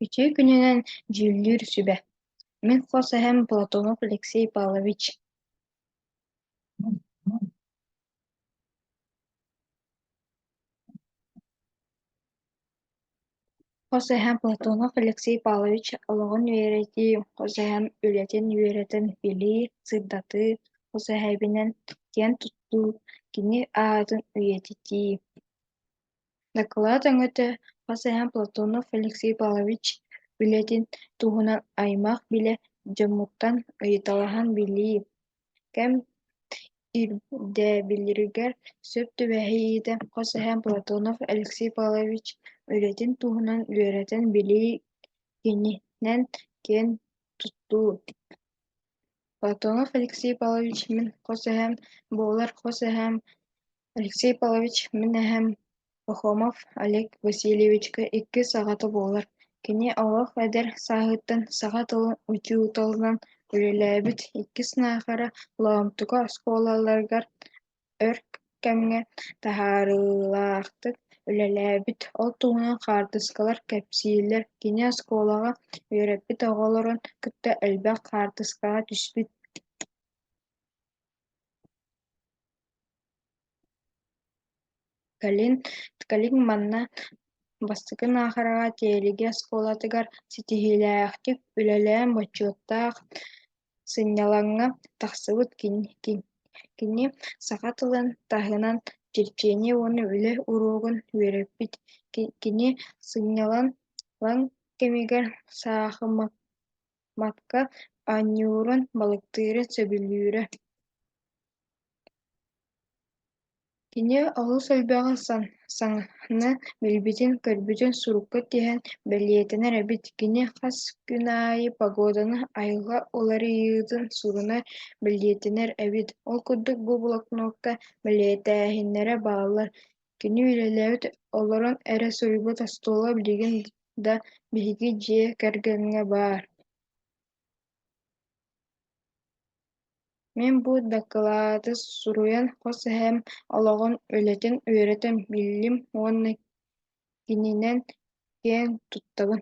Үтүө күнүнэн дьүүллүүр сүбэ. Мин хос эһэм Платонов Алексей Павлович Хос эһэм Платонов Алексей Павлович олоҕун үөрэтии, хос эһэм үлэтин үөрэтэн билии, сырдатыы, хос эһэбинэн киэн туттуу, кини аатын үйэтитии. Дакылаат өҥөтө хас эһэ Платонов Алексей Павлович үлэтин туһунан аймах-билэ дьоммуттан ыйыталаһан билии, кэм ирдэбиллэригэр сөп түбэһииһитэ хас эһэ Платонов Алексей Павлович үлэтин туһунан үөрэтэн билии кининэн киэн туттуу. Платонов Алексей Павлович мин хос эһэм буолар хос эһэм Алексей Павлович, мин эһэм Пахомов Олег Васильевичка иккис аҕата буолар. Кини олох эдэр сааһыттан саха тылын учууталынан үлэлээбит, иккис наахара Лоомтука оскуолаларыгар өр кэмҥэ таһаарыылаахтык үлэлээбит. Ол туһунан хаартыскалар кэпсииллэр. Кини оскуолаҕа үөрэппит оҕолорун кытта элбэх хаартыскаҕа түспүт. Кэлин Ткалин манна бастакы наахараҕа Тиэлиги оскуолатыгар ситиһиилээхтик үлэлээн бочуоттаах сынньалаҥҥа тахсыбыт кини саха тылын таһынан черчение уонна үлэ уруогун үөрэппит. Кини сынньалаҥ кэмигэр саахымакка Матка анньыырын балыктыыра сөбүлүүрэ Кини олус элбэҕи саҥаны билбитин-көрбүтүн сурукка тиһэн бэлиэтэнэр эбит Кини хас күн аайы погоданы айылҕа уларыйыытын суруна бэлиэтэнэр эбит Ол курдук бу блокнотка бэлиэтээһиннэрэ бааллар Кини үлэлээбит олорон эрэ суруйбут остуола билигин да биһиги дьиэ кэргэҥҥэ баар Мин бу дакылааты суруйан хос эһээм олоҕун, үлэтин үөрэтэн биллим уонна кининэн киэн туттабын